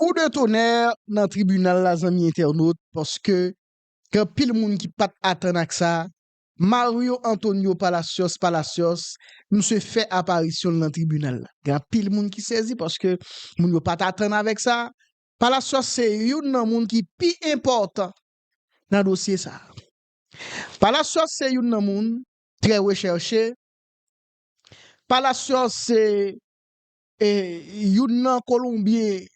Kou de tonè nan tribinal la zanmi entènot paske gen anpil moun ki pat atann ak sa, Mario Antonio Palacios Palacios misye fè aparisyon l nan tribinal la. Gen anpil moun ki sezi paske moun yo pat atann avèk sa, Palacios se youn nan moun ki pi enpòtan nan dosye sa. Palacios se youn nan moun trè rechèche, Palacios se E youn nan Kolonbyen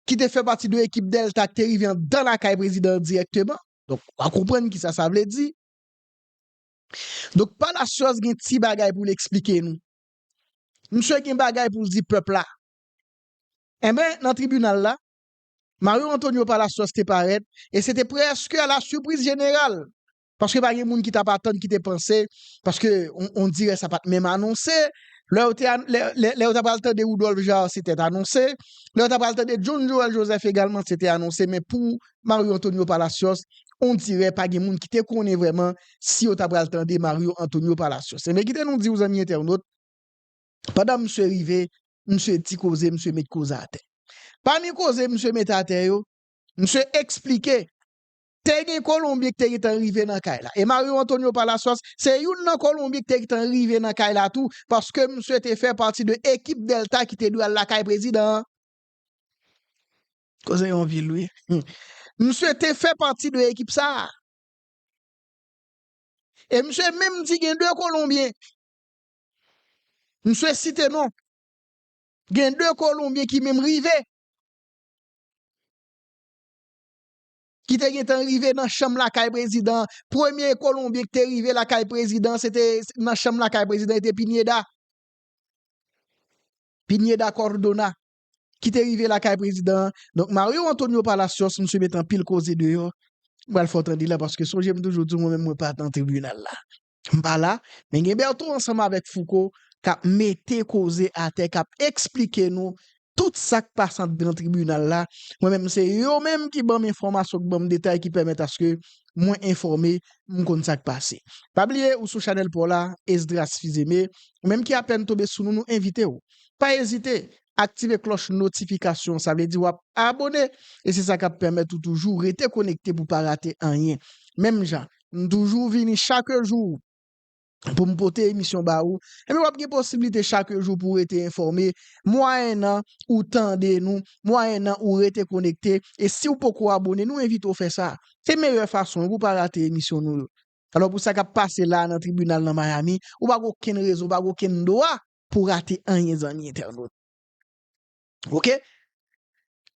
ki te fè pati de ekip Delta ki te rive anndan lakay prezidan an dirèkteman. Donk, w a konprann kisa sa vle di. Donk, Palacios gen ti bagay pou l eksplike nou. Misye gen bagay pou l di pèp la. Enben, nan tribinal la, Mario Antonio Palacios te parèt e se te prèske a la sipriz jeneral Paske pa gen moun ki tap atann ki te panse paske on dirè sa pat menm anonse lè yo te lè yo ta pral tande Rudolphe Jaar se tèt anonse lè yo ta pral tande John Joel Joseph egalman se te anonse men pou Mario Antonio Palacios on dirè pa gen moun ki te konnen vrèman si yo ta pral tande Mario Antonio Palacios enben kite nou di w zanmi entènot pandan misye rive misye di koze misye met koze atè pami koze misye mete atè yo misye eksplike Te gen Kolonbyen ki te gentan rive nan kay la. E Mario Antonio Palacios se youn nan Kolonbyen ki te gentan rive nan kay la tou paske misye te fè pati de ekip Delta ki te dwe al lakay prezidan an. Koze yon vil wi. Misye te fè pati de ekip sa a. E misye menm di gen 2 Kolonbyen. Misye site non. Gen 2 Kolonbyen ki menm rive. ki te gentan rive nan chanm lakay prezidan an, premye kolonbyen ki te rive lakay prezidan an se te nan chanm lakay prezidan e te Pineda, Pineda Cordona ki te rive lakay prezidan an, donk Mario Antonio Palacios misye met anpil koze deyò, m pral fè w tande la paske sonje m toujou di w mwen menm mwen pa nan tribinal la. M pa la, men gen Bertho ansanm avèk Fouco k ap mete koze atè, k ap esplike nou tout sa k pase anndan tribinal la. Mwen menm se yo menm ki ban m enfòmasyon, ki ban m detay ki pèmèt aske mwen enfòme, m konn sa k pase. Pa bliye ou sou chanèl pa w la, Esdras Fils Aimé, ou menm ki apèn tonbe sou nou, nou envite w, pa ezite aktive klòch notifikasyon an, sa vle di w ap abone e se sa k ap pèmèt ou toujou rete konekte pou w pa rate anyen. Menm jan M toujou vini chak jou pou m pote emisyon ba ou. Ebyen w ap gen posiblite chak jou pou w rete enfòme mwayennan ou tande nou, mwayennan ou rete konekte. E si w poko abone, nou envite w fè sa. Se meyè fason pou w pa rate emisyon nou yo. Alò pou sa k ap pase la a nan tribinal nan Miami, ou pa gen okenn rezon, ou pa gen okenn dwa pou w rate anyen zanmi entènot. ok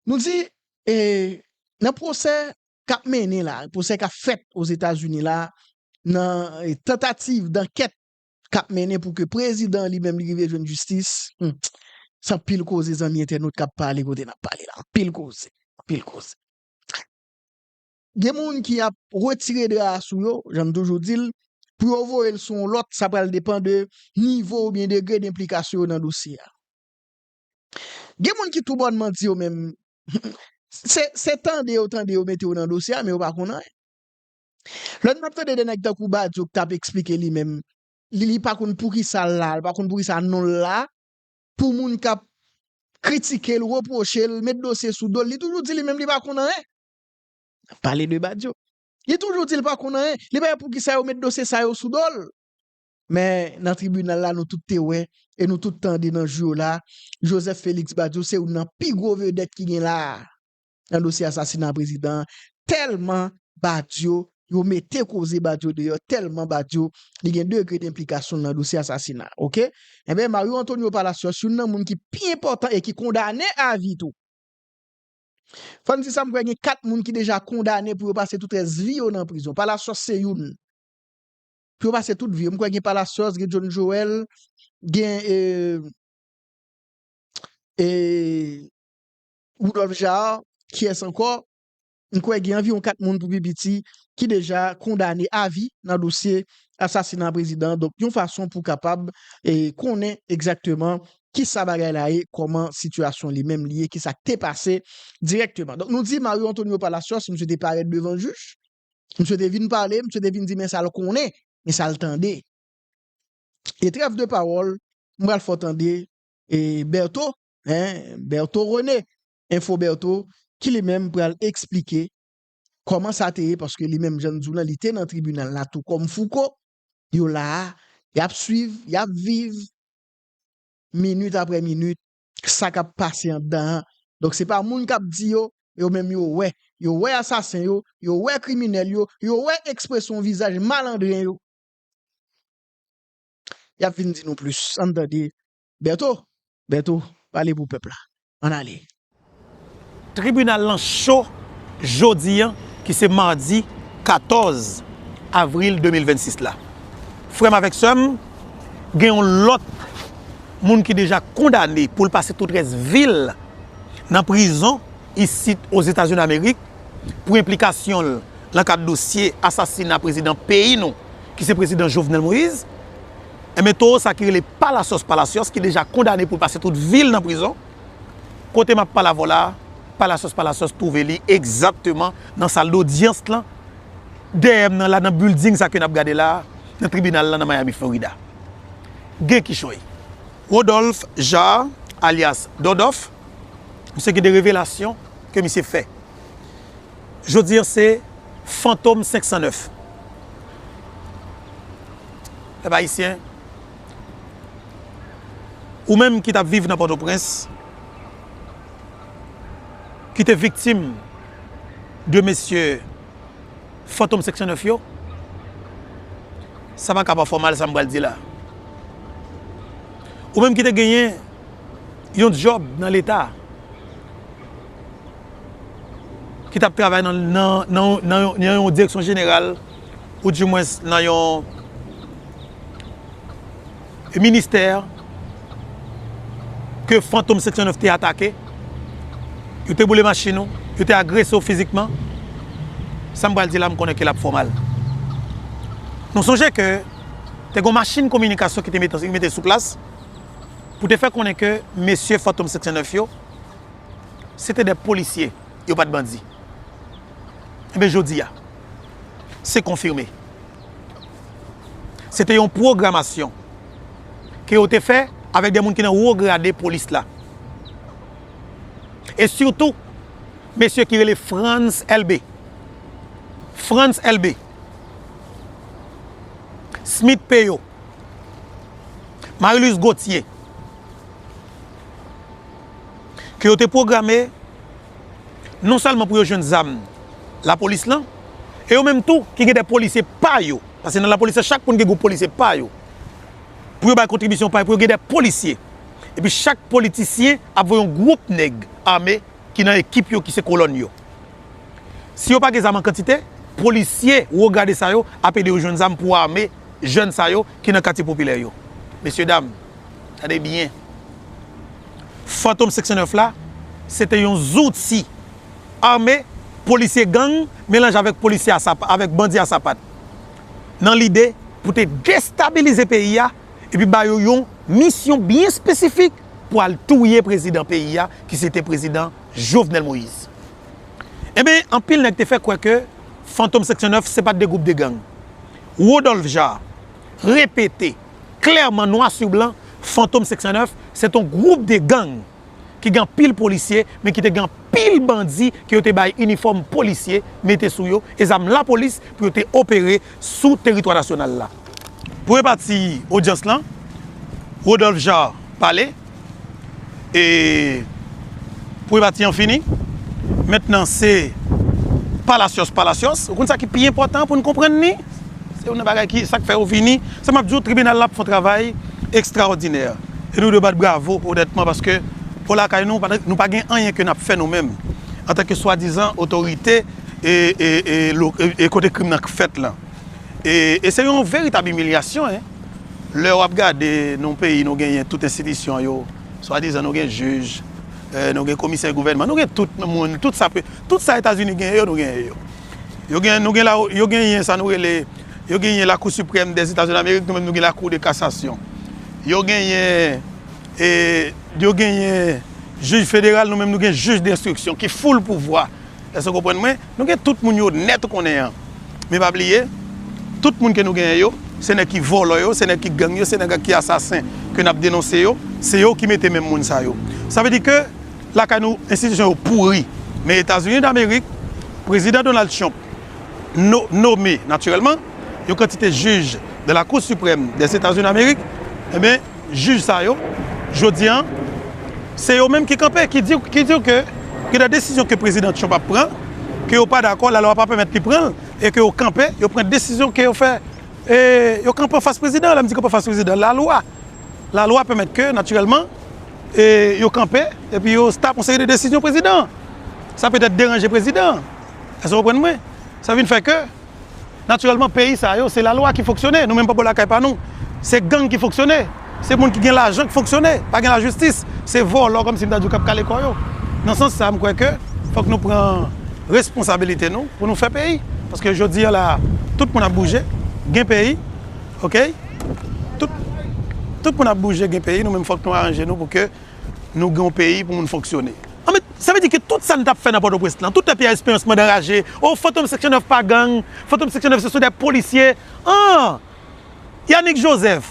nou di e nan pwosè kap mennen la pwosè kap fèt ozetazini la nan tantativ dankèt kap mennen pou ke prezidan li menm li rive jwenn jistis se anpil koze zanmi entènot kap pale kote nap pale la anpil koze anpil koze gen moun ki ap retire dra a sou yo janm toujou dil pou yo voyel sou yon lòt sa pral depan de nivo oubyen degre denplikasyon yo nan dosye a. Gen moun ki tou bon manti yo menm se se tande yo tande yo mete yo nan dosye a men yo pa konn anyen. Lè nap tande de nèg tankou Badio ki tap esplike li menm li li pa konn poukisa l la, li pa konn poukisa non l la pou moun kap kritike l, repwoche l, met dosye sou do l, li toujou di li menm li pa konn anyen. Nap pale de Badio. Li toujou di li pa konn anyen, li pa wè poukisa yo met dosye sa yo sou do l. Men, nan tribinal la nou tout te wè e nou tout tande nan jou yo la, Joseph Félix Badio se youn nan pi gwo vedèt ki gen la a nan dosye asasina prezidan an, tèlman Badio, yo mete koze Badio deyò, tèlman Badio li gen degre denplikasyon l nan dosye asasina a. Oke? Enben, Mario Antonio Palacios, youn nan moun ki pi enpòtan e ki kondane avi tou. Fò n di sa, m kwè gen 4 moun ki deja kondane pou yo pase tout rès vi yo nan prizon. Palacios se youn. pou yo pase tout vi yo. M kwè gen Palacios, gen John Joel, gen Rudolph Jaar, kiyès ankò? M kwè gen anviwon 4 moun pou pi piti ki deja kondane avi nan dosye asasina prezidan an. Donk yon fason pou kapab konnen egzakteman ki sa bagay la ye, kòman sitiyasyon li menm li ye, ki sa k te pase dirèkteman. Donk nou di Mario Antonio Palacios, misye te parèt devan jij, Misye te vin pale, misye te vin di men sa l konnen, men sa l tande. E trèf de pawòl, m pral fè w tande Bertho, Bertho René, Info Bertho, ki li menm pral esplike kòman sa te ye paske li menm jan m di w lan li te nan tribinal la tou kòm Fouco, yo la a, y ap swiv, y ap viv minit aprè minit sa kap pase andan an donk se pa moun kap di yo yo menm yo wè yo wè asasen yo yo wè kriminèl yo yo wè ekspresyon vizaj malandren yo yap vin di nou plis ann tande Bertho Bertho pale pou pèp la ann ale. Tribinal lan cho jodi an ki se madi 14 avril 2026 la. Frè m avèk sè m, gen yon lòt moun ki deja kondane pou l pase tout rès vi l nan prizon isit Ozetazini Damerik pou enplikasyon l nan kad dosye asasina prezidan peyi nou ki se prezidan Jovenel Moïse. Enben towo sa ki rele Palacios Palacios ki deja kondane pou l pase tout vi l nan prizon. Kote map pala vola a, Palacios Palacios twouve li egzakteman nan sal dodyans lan, dèyè m nan la nan bilding sa ke nap gade la a, nan tribinal lan nan Miami Florida. Gen kichoy. Rodolphe Jaar alyas Dodof, misye gen de revelasyon ke misye fè. Jodi an se Fantom 509. Pèp Ayisyen. Ou menm ki tap viv nan Pòtoprens, ki te viktim de mesye fantom seksyon 9 yo, sa pa ka pa fè w mal sa m pral di la. Ou menm ki te genyen yon djòb nan leta, ki tap travay nan yon direksyon jeneral, ou di mwens nan yon ministè ke fantom 709 te atake, yo te boule machin ou, yo te agrese ou fizikman, sa m pral di la m konnen ke l ap fè w mal. Nou sonje ke te gen yon machin kominikasyon ki te mete sou plas pou te fè konnen ke mesye fantom 709 yo se te de polisye. yo pat bandi. Enben jodi a, se konfime. Se te yon pwogramasyon ke yo te fè avèk de moun ki nan wo grade polis la. E sitou, mesye ki rele Frantz Elbe. Frantz Elbe. Smith Peyo. Marie-Louise Gauthier. ke yo te pwograme non sèlman pou yo jwenn zam lapolis lan, e yo menm tou ki gen de polisye pa yo, paske nan lapolis lan chak moun gen gwoup polisye pa yo, pou yo bay kontribisyon pa yo, pou yo gen de polisye. Epi chak politisyen ap voye yon gwoup nèg ame ki nan ekip yo, ki se kolòn yo. Si yo pa gen zam an kantite, polisye wo grade sa yo ap ede yo jwenn zam pou ame jèn sa yo ki nan katye popilè yo. Mesyedam! Tande byen, Fantom Seksyon 9 la se te yon zouti ame polisye gang melanje avèk polisye a sapat, avèk bandi a sapat nan lide pou te destabilize peyi a epi ba yo yon misyon byen espesifik pou al touye prezidan peyi a ki se te prezidan Jovenel Moïse. Enben, anpil nèg te fè kwè ke Fantom Seksyon 9 se pa t de gwoup de gang. Rodolphe Jaar repete Klèman nwa su blan Fantom 509 se t on gwoup de gang ki gen anpil polisye men ki te gen anpil bandi ke yo te bay inifòm polisye mete sou yo e zam lapolis pou yo te opere sou teritwa nasyonal la. Premye pati odyans lan, Rodolphe Jaar pale. e privati an fini mentnan se palasyos palasyos ou konn sa ki pi enpotan poun konprann ni se yon nan bagay ki sak fè yo vini sa map diw tribinal la ap fon travay ekstraòdinè e nou dwe bat bravo onètman paske pou lakay nou nou pa gen anyen ke nap fè nou menm antanke swadizan otorite e kote krim nan k fèt lan. E se yon veritab imilyasyon e lè wap gade nou peyi nou genyen tout enstitisyon yo swadizan nou gen jij nou gen komisè gouvènman nou gen tout moun tout sa tout sa etazini genyen yo nou genyen yo yo gen nou gen yo genyen sa nou rele yo genyen lakou siprèm dè zeta zòn amerik nou menm nou gen lakou de kasasyon yo genyen e yo genyen jij federal nou menm nou gen jij de enstriksyon ki foul pouvwa Èske w konprann mwen? Nou gen tout moun yo nèt ou konnen an. Men pa bliye, tout moun ke nou genyen yo, se nèg ki vòlò yo, se nèg ki gang yo, se nèg ki asasen ke n ap denonse yo, se yo ki mete menm moun sa yo. Sa vle di ke lakay nou enstitisyon yo pouri. Men Etazini Damerik, Prezidan Donald Trump no, nome natirèlman, yon kantite jij de la Cour Suprême des Etats-Unis d'Amérique, enben, jij sa yo jodi an, se yo menm ki kanpe, ki di, ki di ke gen de desizyon ke Prezidan Trump ap pran, ke yo pa dakò, lalwa pa pèmèt li pran l, e ke yo kanpe, yo pran desizyon ke yo fè, e yo kanpe an fas Prezidan an, lè m di kanpe an fas Prezidan an, lalwa, lalwa pèmèt ke, natirèlman, e yo kanpe, epi yo stop yon seri de desizyon Prezidan an. Sa petèt deranje Prezidan an. Èske w konprann mwen? Sa vin fè ke. Natirèlman peyi sa yo se lalwa ki fonksyone, nou menm pa bò lakay pa nou se gang ki fonksyone, se moun ki gen lajan ki fonksyone, pa gen lajistis, se vòlò kòmsi m ta di w k ap kale kò yo. Nan sans sa m kwè ke fòk nou pran responsabilite nou pou nou fè peyi paske jodi an la a tout moun ap bouje gen peyi ok tout tout moun ap bouje gen peyi nou menm fòk nou aranje nou pou ke Nou gen yon peyi pou moun fonksyone. Anmweyy sa vle di ke tout sa nou tap fè nan pòtoprens lan, tout tan Pierre Esperance mande anraje, oh fantom seksyon 9 pa gang, fantom seksyon 9 se sou dè polisye, ahh Yanick Joseph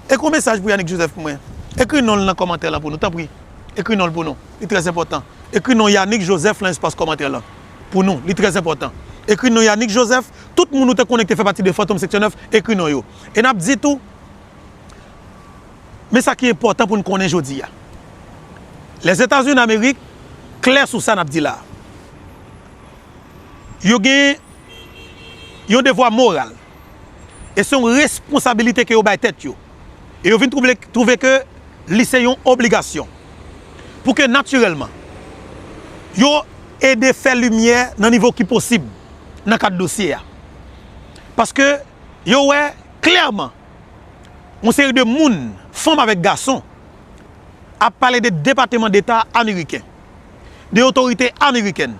Ekri yon mesaj pou Yanick Joseph pou mwen, ekri non l nan kòmantè lan pou nou tanpri, ekri non l pou nou, li trè enpòtan, ekri non Yanick Joseph lan espas kòmantè lan pou nou, li trè enpòtan, ekri non Yanick Joseph, tout moun ou te konnen ki te fè pati de fantom seksyon 9 ekri non yo, e nap di tou. Men sa ki enpòtan pou n konnen jodi a, Lèzetazini Amerik klè sou sa n ap di la a. Yo gen yon devwa moral e se yon responsabilite ke yo bay tèt yo e yo vin twouve ke li se yon obligasyon pou ke natirèlman yo ede fè limyè nan nivo ki posib nan kad dosye a. Paske yo wè klèman yon seri de moun, fanm avèk gason, ap pale de Depateman Deta ameriken, de otorite amerikèn.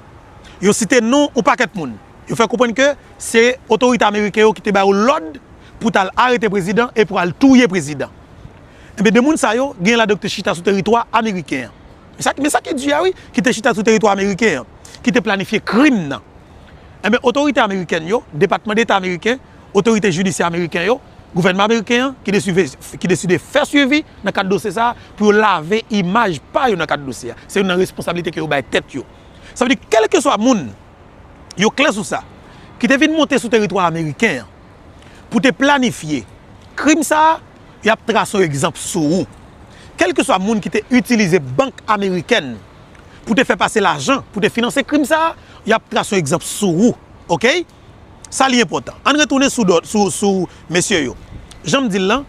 Yo site non yon pakèt moun. Yo fè konprann ke se otorite ameriken yo ki te ba yo lòd pou t al arete prezidan e pou al touye prezidan. Enben, de moun sa yo, genyen ladan yo ki te chita sou teritwa ameriken an. Men sa ki di a wi, ki te chita sou teritwa ameriken an, ki te planifye krim nan. Enben, otorite amerikèn yo, Depatman Deta ameriken, otorite jidisyè ameriken yo, gouvènman ameriken an ki deside fè swivi nan kad dosye sa a pou yo lave imaj pa yo nan kad dosye a. Se youn nan responsablite ke yo bay tèt yo. Sa vle di kèlkeswa moun, yo klè sou sa, ki te vin monte sou teritwa ameriken an pou te planifye krim sa a, y ap trase yon egzanp sou ou. Kèlkeswa moun ki te itilize bank amerikèn pou te fè pase lajan pou te finanse krim sa a, y ap trase yon egzanp sou ou. Oke? Sa li enpòtan. Ann retounen sou dò, sou, sou mesye yo. Jan m di l lan,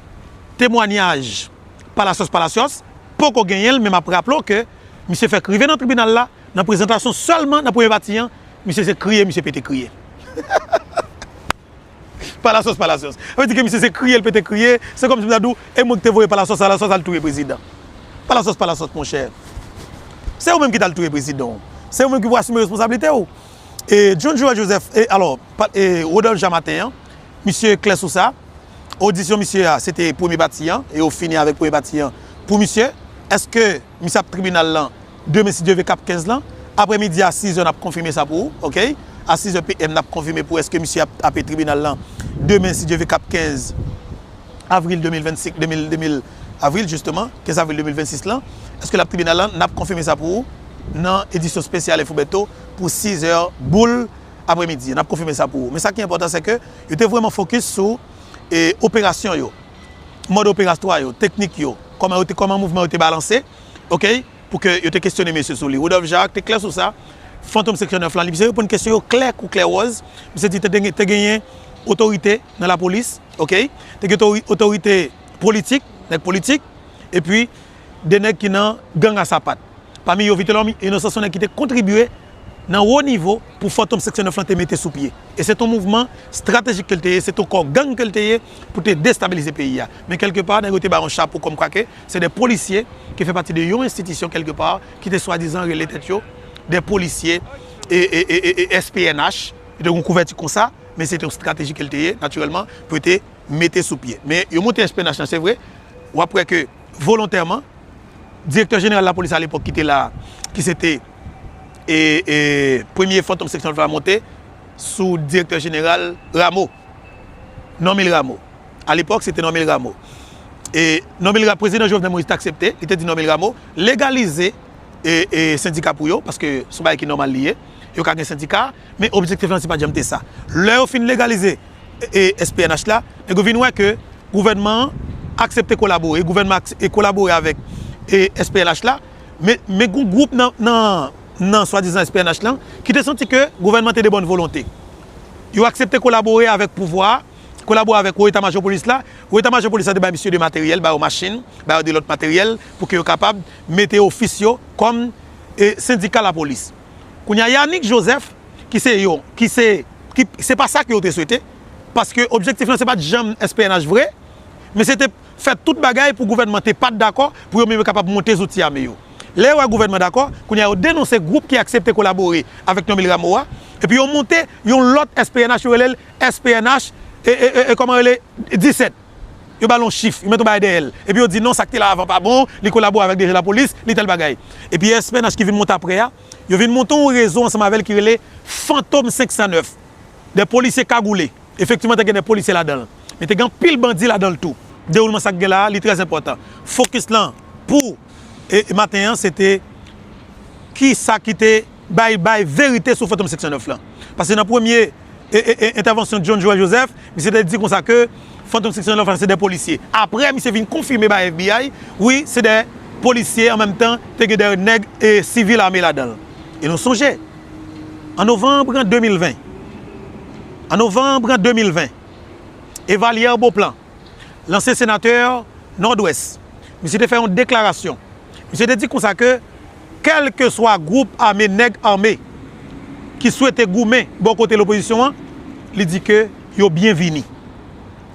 temwanyaj Palacios Palacios poko genyen l men m ap raple w ke misye fèk rive nan tribinal la, nan prezantasyon sèlman nan premye pati an, misye se kriye misye pete kriye. Palacios Palacios. Sa vle di ke misye se kriye l pete kriye, se kòmsi m ta di w, e mwen ki te voye Palacios Palacios al touye prezidan. Palacios Palacios monchè, se ou menm ki t al touye prezidan w. Se ou menm ki pou asime responsablite w. E John Joel Joseph, e alò, e Rodolphe Jean Martin an, misye klè sou sa, odisyon misye a, se te premye pati an, e yo fini avèk premye pati an pou misye. Eske misye ap tribinal lan demen si Dye ve kap 15 lan? Aprè midi a 6 zè nap konfime sa pou ou, ok? A 6 zè PM nap konfime pou eske misye ap tape tribinal lan demen si Dye ve kap 15 avril 2025, 2000, 2000 avril jisteman, 15 avril 2026 lan. Eske lap tribinal lan? Nap konfime sa pou ou nan edisyon spesyal Enfo Beto. pou 6 zè boul apre midi an, n ap konfime sa pou ou. Men sa ki enpòtan se ke yo te vrèman fokis sou operasyon yo, mòd operastrwa yo, teknik yo, kòman yo te, kòman mouvman yo te balanse, ok, pou ke yo te kesyone mesye sou li. Rodolphe Jaracq te klè sou sa, Fantom Seksyon 9 lan, li misye reponn kesyon yo klè kou klè wòz, misye di te genyen otorite nan lapolis, ok, te gen otorite politik, nèg politik, epi. 2 nèg ki nan gang a sapat. Pami yo Vitelòm Inosan son nèg ki te kontribye nan wo nivo pou Fantom Seksyon 9 lan te mete sou pye. E se t on mouvman stratejik ke l te ye, se t on kò gang ke l te ye pou te destabilize peyi a. Men kèlke pa nèg yo te ba yon chapo kòm kwa ke se de polisye ki fè pati de yon enstitisyon kèlke pa ki te swadizan rele tèt yo de polisye es pnh. Yo te gen yon kouvèti konsa men se te yon strateji ke l te ye natirèlman pou yo te mete sou pye. Men yo monte es pnh lan se vre, w ap wè ke. volontèman. Direktè jeneral lapolis alepòk ki te la a, ki se te premye fantom seksyon Alfa a monte sou direktè jeneral Rameau, Normil Rameau. Alepòk se te Normil Rameau. E Normil Rameau, prezidan Jovenel Moïse te aksepte, li te di Normil Rameau, legalize sendika pou yo, paske son bagay ki nòmal li ye, yo ka gen sendika. Men objektif lan se pat janm te sa. Lè yo fin legalize SPNH la, nèg yo vin wè ke gouvènman an aksepte kolabore, gouvènman an kolabore avèk SPNH la, men gon gwoup nan swadizan SPNH lan ki te santi ke gouvènman te de bòn volonte. Yo aksepte kolabore avèk pouvwa a, kolabore avèk wo eta majò polis la, wo eta majò polis la te bay misye de materyèl, ba yo machin, ba yo de lòt materyèl pou ke yo kapab mete ofis yo kòm sendika lapolis. Kounya Yanick Joseph ki se yo ki se ki se pa sa ke yo te swete paske objektif lan se pat janm SPNH vre men se te fè tout bagay pou gouvènman te pat dakò pou yo menm yo kapab monte zouti ame yo. Lè yo wè gouvènman dakò, kounya yo denonse gwoup ki aksepte kolabore avèk Normil Rameau a epi yo monte yon lòt SPNH yo rele l SPNH e e e kòman rele 17. yo ba l yon chif, yo met yon bagay dèyè l, epi yo di non sa k te la avan pa bon, li kolabore avèk DG Lapolis, li tèl bagay. Epi SPNH ki vin monte aprè a, yo vin monte yon rezo ansanm avè l ki rele Fantom 509, de polisye kagoule. Efektivman te gen de polisye ladan l, men te gen anpil bandi ladan l tou. Dewoulman sa k gen la a, li trè enpòtan. Fokis lan pou maten an se te ki sa ki te bay bay verite sou Fantom 509 lan. Pase nan premye. entèvansyon John Joel Joseph, misye te di konsa ke Fantom 609 la se 2 polisye. Aprè misye vin konfime bay FBI, wi se 2 polisye an menm tan te gen 2 nèg sivil ame ladan l. E nou sonje, an novanb 2020, an novanb 2020, Evalière Beauplan, lanse senatè Nòdwès. Misye te fè yon deklarasyon. Misye te di konsa ke kèlkeswa gwoup ame nèg ame ki swete goumen bò kote lopozisyon an, li di ke yo byenvini.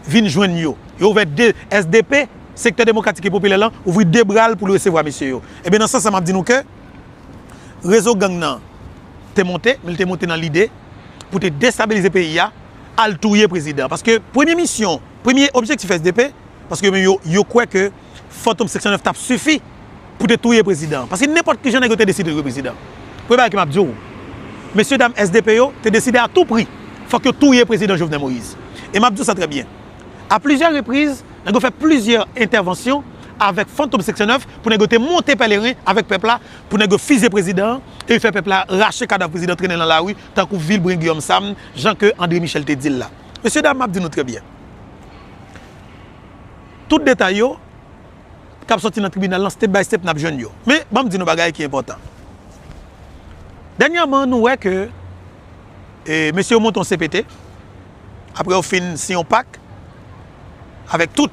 Vin jwenn yo. Yo ouvè de, sdp, Sektè Demokratik e Popilè lan, ouvri de bra l pou l resevwa mesye yo. Ebyen nan sans sa m ap di nou ke rezo gang nan te monte, men li te monte nan lide pou te destabilize peyi a. al touye prezidan paske premye misyon premye objektif sdp paske yo menm yo yo kwè ke fantom seksyon 9 tap sifi pou te touye prezidan paske nenpòt kijan nèg yo te deside touye prezidan premye bagay ke map diw mesye dam sdp yo te deside a tou pri fòk yo touye prezidan Jovenel Moïse e map diw sa trè byen a plizyè repriz nèg yo fè plizyè entèvansyon avèk fantom seksyon 9 pou nèg yo te monte pèleren avèk pèp la pou nèg yo fize prezidan e fè pèp la rache kadav prezidan trennen lan lari tankou Vilbrun Guillaume Sam, jan ke André Michel te di l la. Mesye dam, m ap di nou trè byen, tout detay yo k ap sòti nan tribinal lan, step by step n ap jwenn yo. Men, ban m di nou bagay ki enpòtan. Dènyèman, nou wè ke mesye yo monte yon CPT, apre yo fin siyen yon pak avèk tout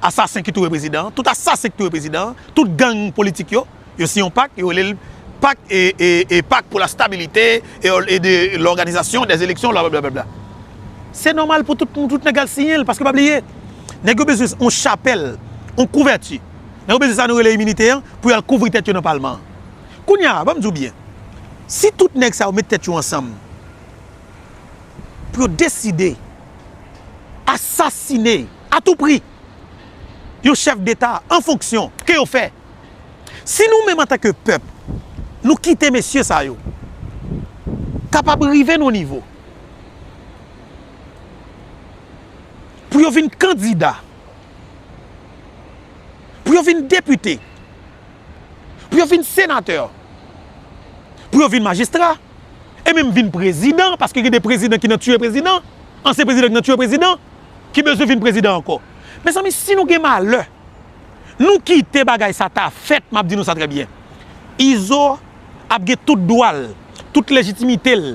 asasen ki touye prezidan an, tout asasen ki touye prezidan an, tout gang politik yo, Yo siyen yon pak, yo rele l pak e pak pou la stabilite e de lòganizasyon dè eleksyon blablabla. Se nòmal pou tout moun, tout nèg al siyen l paske pa bliye nèg yo bezwen yon chapèl, yon kouvèti, nèg yo bezwen sa nou rele iminite an pou y al kouvri tèt yo nan palman an. Kounye a, ban m di w byen, si tout nèg sa yo met tèt yo ansanm pou yo deside asasine atoupri yon chèf deta an fonksyon, ke yo fè? Si nou menm antanke pèp nou kite mesye sa yo kapab rive nan yon nivo pou yo vin kandida, pou yo vin depite, pou yo vin senatè, pou yo vin majistra e menm vin prezidan, paske gen de prezidan ki nan tiye prezidan, ansyen prezidan ki nan tiye prezidan, ki bezwen vin prezidan ankò. Mezanmi si nou gen malè. Nou kite bagay sa ta fèt map di nou sa trè byen. Izo ap gen tout dwa l, tout lejitimite l,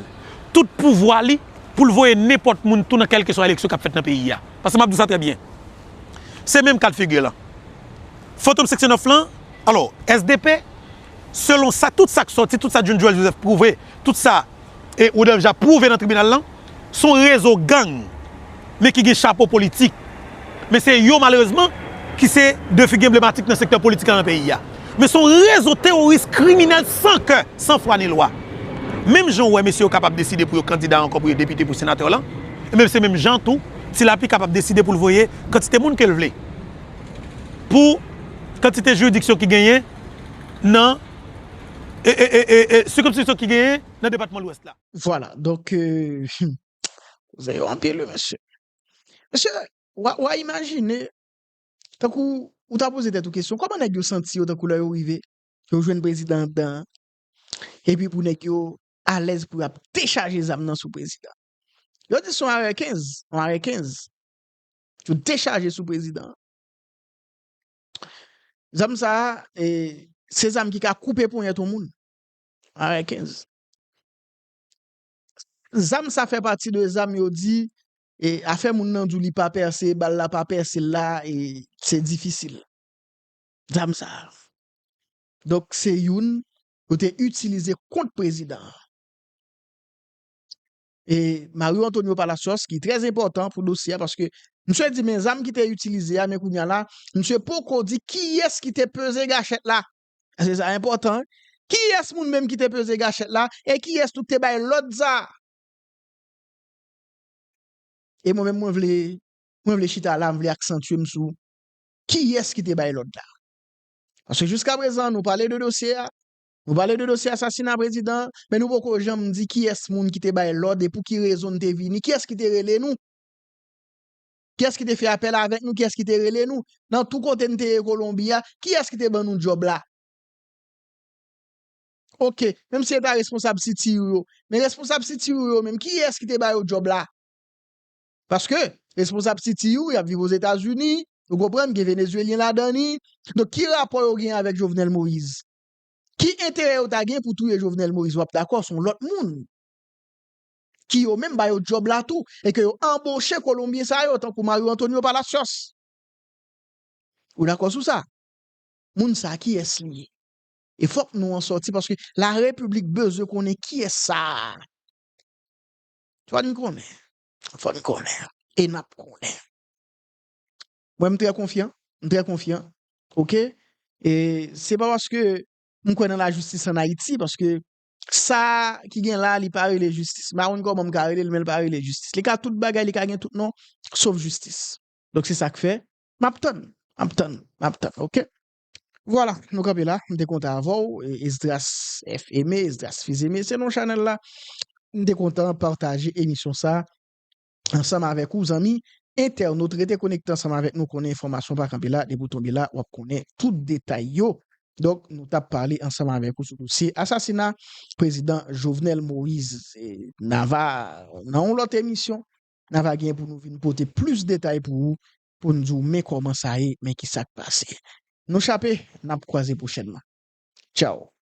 tout pouvwa li pou l voye nenpòt moun tou nan kèlkeswa eleksyon kap fèt nan peyi a. Paske map di w sa trè byen. Se menm kad figi lan. Fantom Seksyon 9 lan, alò, SDP. Selon sa tout sa k sòti, tout sa Jun Joel Joseph pwouve, tout sa Rodolphe Jaar pwouve nan tribinal lan, s on rezo gang men ki gen chapo politik. Men se yo malerezman ki se de figi enblematik nan sektè politik la nan peyi a. Men s on rezo teworis kriminèl san kè, san fwa ni lwa. Menm jan ou wè mesye yo kapab deside pou yo kandida ankò pou yo depite, pou senatè lan, enben se menm jan tou Ti Lapli kapab deside pou l voye kantite moun ke l vle pou kantite jiridiksyon ki genyen nan sikonskripsyon ki genyen nan depatman Lwès la. Vwala, donk, hum, kouzen yo anpil wi mesye. Mesye, wa imajine, tankou ou ta poze tèt ou kesyon, kòman nèg yo santi yo tankou lè yo rive, yo jwenn prezidan anndan an, epi pou nèg yo alèz pou y ap dechaje zam nan sou prezidan an. Yo di se yon arè 15, yon arè 15, yo dechaje sou prezidan an. Zam sa a, se zam ki ka koupe ponyèt yon moun. Are 15. Zam sa fè pati de zam yo di, e afè moun nan di w li pa pèse, bal la pa pèse l la, e se difisil. Zam sa a. Donk se youn yo te itilize kont prezidan an. e Mario Antonio Palacios ki trè enpòtan pou dosye a paske misye di men zam ki te itilize a men kounya la misye poko di kiyès ki te peze gachèt la se sa enpòtan wi kiyès moun menm ki te peze gachèt la e kiyès tou ki te bay lòd sa a e mwen menm mwen vle mwen vle chita la mwen vle aksantye m sou kiyès ki te bay lòd la paske jiskaprezan nou pale de dosye a Nou pale de dosye asasina prezidan an, men nou poko janm di kiyès moun ki te bay lòd e pou ki rezon n te vini, kiyès ki te rele nou, kiyès ki te fè apèl avèk nou, kiyès ki te rele nou, nan tou kote n te ye Kolonbi a, kiyès ki te ban nou djòb la. Ok, menm si e ta responsab CTU yo, men responsab CTU yo menm, kiyès ki te ba yo djòb la? Paske, responsab CTU y ap viv Ozetazini, ou konprann, gen Venezuelyen ladan li, donk ki rapò yo gen avèk Jovenel Moïse? Ki enterè yo ta gen pou touye Jovenel Moïse wap dakò son lòt moun ki yo menm ba yo djòb la tou e ke yo anboche kolonbyen sa yo tankou Mario Antonio Palacios. Ou dakò sou sa? Moun sa kiyès li ye? E fòk non an sòti paske la repiblik bezwen konnen kiyès sa a. Fòn konnen. Fòn konnen. E nap konnen. Mwen m trè konfyan, m trè konfyan ok e se pa paske m kwè nan lajistis an Ayiti paske sa ki gen la li pa rele jistis m pa konn kòman m ka rele l men li pa rele jistis li ka tout bagay li ka gen tout non sof jistis donk se sa k fè m ap tann m ap tann m ap tann ok vwala nou kanpe la m te kontan avè w Esdras F. Aimé Esdras Fils Aimé se non chanèl la m te kontan pataje emisyon sa ansanm avèk ou zanmi entènot rete konekte ansanm avèk nou konnen enfòmasyon pa kanpe la depi ou tonbe la wap konnen tout detay yo donk nou tap pale ansanm avèk ou sou dosye asasina prezidan Jovenel Moise na va nan yon lòt emisyon na va gen pou nou vin pote plis detay pou ou pou n di w men kòman sa ye men kisak pase nou chape nap kwaze pwochènman tchaw.